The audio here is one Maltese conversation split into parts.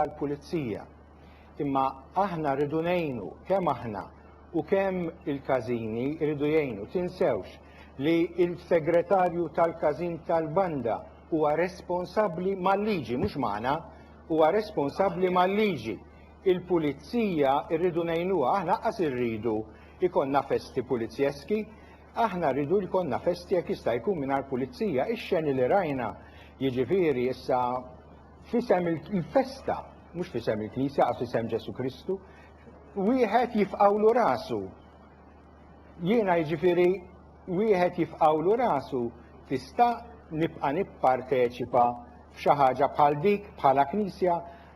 tal-pulizija. Imma aħna rridu ngħinu, kemm aħna u kemm il-każini jridu jgħinu. Tinsewx li l-segretarju tal-każin tal-banda huwa responsabbli mal-liġi, mhux magħna, huwa responsabbli mal-liġi. Il-pulizija rridu ngħinuha, aħna qas irridu ikonna festi pulizjeski, aħna rridu jkollna festi jekk jista' jkun mingħajr pulizija. Ix-xeni li rajna, jiġifieri issa f'isem il-festa, mhux f'isem il-Knisja, għax f'isem Ġesu Kristu, wieħed jifqawlu rasu. Jiena jiġifieri wieħed jifqawlu rasu tista' nibqa' nipparteċipa f'xi ħaġa bħal dik bħala knisja,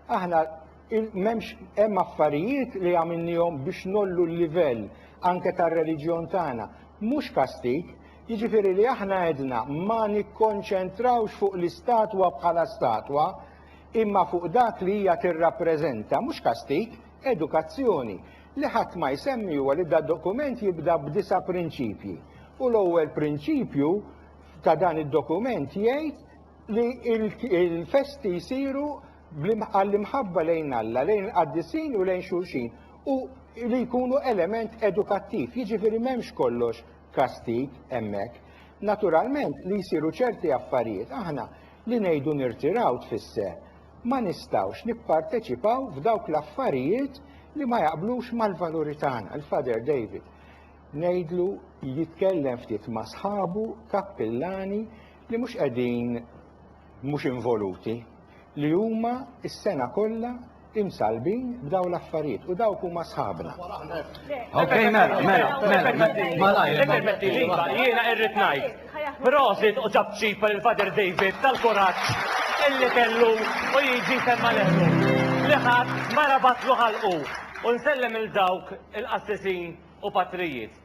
aħna m'hemmx hemm affarijiet li għamilnihom biex nollu l-livell anke tar-reliġjon tagħna. Mhux kastik, Jiġifieri li aħna għedna ma nikkonċentrawx fuq l-istatwa bħala statwa, imma fuq dak li hija tirrappreżenta, mhux kastig, edukazzjoni. Li ħadd ma jsemmi huwa li da dokument jibda b'disa' prinċipji. U l-ewwel prinċipju ta' dan id-dokument jgħid li l-festi jsiru għall-imħabba lejn Alla, lejn il-qaddisin u lejn xulxin u li jkunu element edukattiv, jiġifieri m'hemmx kollox kastig hemmhekk. Naturalment li jsiru ċerti affarijiet aħna li ngħidu nirtiraw tfisser ma nistgħux nipparteċipaw f'dawk l-affarijiet li ma jaqblux mal-valuri tagħna. Il-Father David ngħidlu jitkellem ftit ma' sħabu kappillani li mhux qegħdin mhux involuti li huma s-sena kollha imsallbin b'dawn l-affarijiet u dawk huma sħabna. Ok, mela, mela, mela, mela, malajr. Ippermettili, jiena irrid ngħid. Prosit u ġab ċipa lil Father David tal-kuraġġ illi kellu u jiġi semma leħlu. Li ħadd ma rabatlu ħalqu u nsellem il dawk il-qassisin u patrijiet.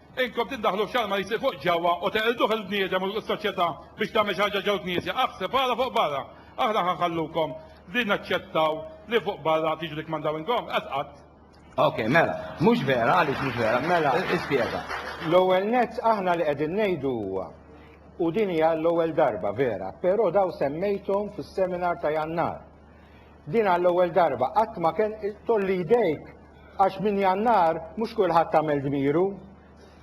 Inkom tiddaħlu f'xalma li jsir fuq ġewwa u teqirduh il-bniedem u s-soċjetà biex tagħmel xi ħaġa ġew-knisja. Aħseb ara fuq barra. Aħna ħa nħallukom li naċċettaw li fuq barra tiġu tikkmandaw intom? Qed qatt. Ok, mela, mhux vera, għaliex mhux vera? Mela, ispjega. L-ewwel nett aħna li qegħdin ngħidu huwa, u din hija l-ewwel darba, vera, però dawn semmejthom fis-seminar ta' Jannar. Din għall-ewwel darba qatt ma kien tolli jdejk għax minn Jannar mhux kulħadd għamel dmiru.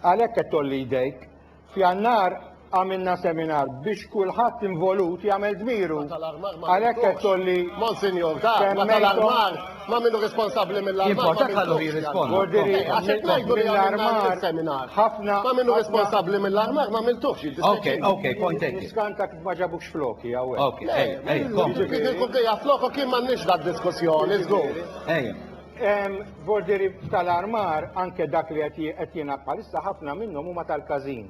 Għalhekk qed tolli jdejk. F'Jannar għamilna seminar biex kulħadd involut jagħmel dmiru. Għalhekk qed tolli Monsinjur, ta' ma tal-armar, ma minnu responsabbli mill-armar. Jibqa' ħallu jirrispondi. Ordiri, għax qed ngħidu li għamilna seminar. Ħafna. Ma minnu responsabbli mill-armar ma miltux. Ok, ok, point taken. Ma ġabux floki hawnhekk. Ok, ej, ej, kom. Jiġifieri flokok kien m'għandniex dak diskussjoni, żgur. Ej. Borderi tal-armar anke dak li qed jingħad bħalissa ħafna minnhom huma tal-każin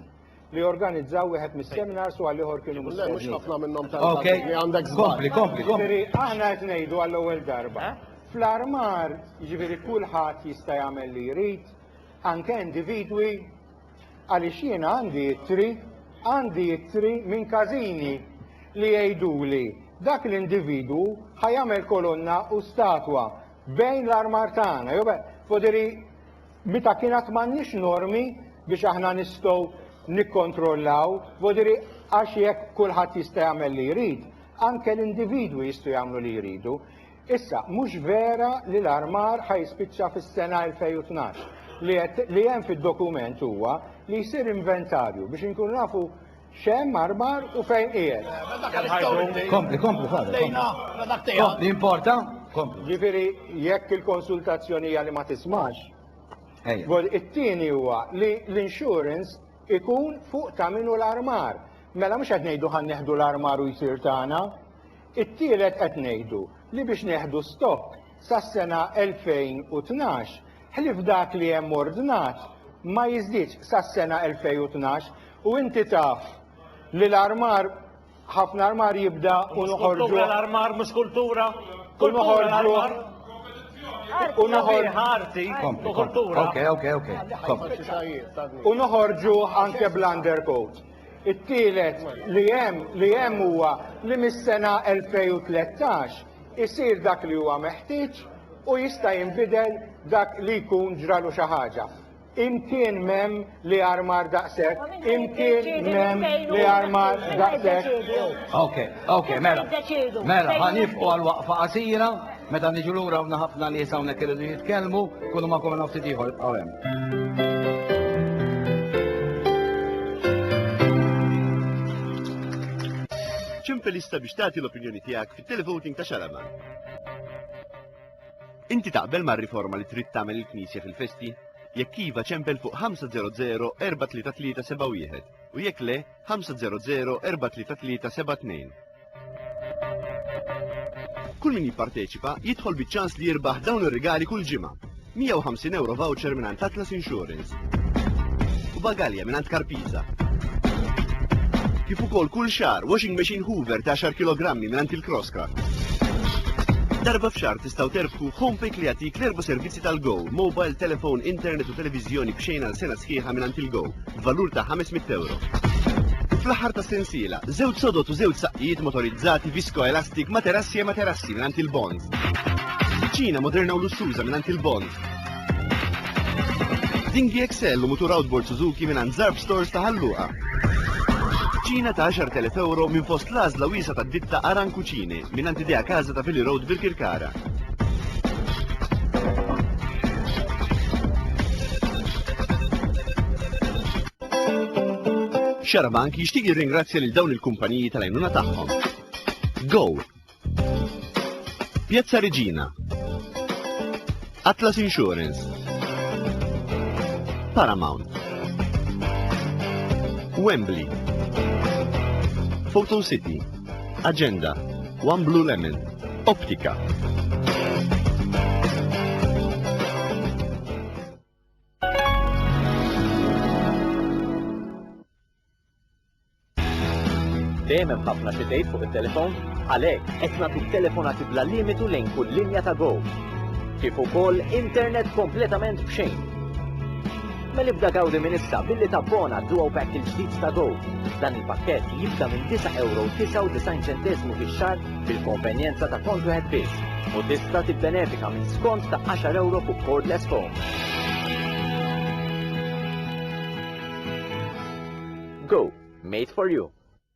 li organizzaw wieħed mis-seminars u għal-ieħor kienu mistednin. Mhux ħafna minnhom tal-każin li għandek żball. Kompli, kompli, kompli. Aħna qed ngħidu għall-ewwel darba. Fl-armar, jiġifieri kulħadd jista' jagħmel li jrid, anke individwi Għaliex jiena għandi ittri, għandi ittri minn każini li jgħiduli, Dak l-individwu ħa jagħmel kolonna u statwa bejn l-armar tagħna. Jew foderi meta kien għad m'għandniex normi biex aħna nistgħu nikkontrollaw, foderi għax jekk kulħadd jista' jagħmel li jrid, anke l-individwi jistgħu jagħmlu li jridu. Issa, mhux vera li l-armar ħa jispiċċa fis-sena 2012. Li qed li hemm fid-dokument huwa li jsir inventarju biex inkunu nafu x'hemm armar u fejn qiegħed. Kompli, kompli, kompli, importa, kompli. Ġifieri jekk il-konsultazzjoni hija li ma tismax, it-tieni huwa li l-insurance ikun fuq ta' min hu l-armar. Mela mhux qed ngħidu ħa neħdu l-armar u jsir tagħna. It-tielet qed ngħidu li biex neħdu stokk sas-sena 2012, ħlief dak li hemm ordnat, ma jiżdiedx sas-sena 2012 u inti taf li l-armar, ħafna armar jibda u noħorġuh. Mhux kultura l-armar, mhux kultura. Kultura l-armar. U noħorġuh arti u kultura. U noħorġuh anke bl-undercoat. It-tielet li hemm li hemm huwa li mis-sena 2013 isir dak li huwa meħtieġ u jista' jinbidel dak li jkun ġralu xi ħaġa. Imkien m'hemm li armar daqshekk, imkien m'hemm li armar daqshekk. Okay, okay, mela. Mela, ħanifqu għal waqfa qasira. Meta niġu lura hawn ħafna nies hawnhekk iridu jitkellmu, kunu ma' kumena ftit ieħor ibqgħu hemm. Ċempel issa biex tagħti l-opinjoni tiegħek fit-televoting ta' Xalama. Inti taqbel mar-riforma li trid tagħmel il-Knisja fil-festi? Jekk iva ċempel fuq 500-433-71 u jekk le 500-433-72. Kull min jipparteċipa jidħol biċ-ċans li jirbaħ dawn ir-rigali kull ġimgħa. 150 euro voucher minn għand Atlas Insurance. U bagalja minn għand Karpiza. Kif ukoll kull xahar washing machine Hoover ta' 10 kg minn għand il-Crosscraft. Darba f'xar tistgħu terbħu Homepick li jagħtik l-erba' servizzi tal-Go, mobile, telefon, internet u televiżjoni b'xejn għal sena sħiħa minn għand il-Go. b'valur ta' 500 ewro. U fl-aħħar tas-sensiela, żewġ sodod u żewġ saqqijiet motorizzati viskoelastik materassi e materassi mingħand il-Bond. Kuċina moderna u lussuża mingħand il-Bond. Dinghi XL u mutur outboard Suzuki mingħand Zarb Stores ta' Ħalluqa. Kuċina ta' 10,000 ewro minn fost l-għażla wiesa' tad-ditta Aran Cucine mingħand Idea Casa ta' Vili Road Birkirkara. Xarabank jixtieq jirringrazzja lil dawn il-kumpaniji tal-għajnuna tagħhom. Go! Piazza Regina. Atlas Insurance. Paramount. Wembley. Photo City. Aġenda, One Blue Lemon, Optika. Dejjem hemm ħafna xi tgħid fuq it-telefon, għalhekk qed nagħtu telefonati bla limitu lejn kull linja ta' Go. Kif ukoll internet kompletament b'xejn. Mela ibda gawdi minn issa billi tabbona għad-Duo Pack il-ġdid ta' Go! Dan il-pakkett jibda minn €9.99 fix-xahar bil-konvenjenza ta' kont wieħed biss u tista' tibbenefika minn skont ta' €10 fuq cordless phone. Go! Made for you!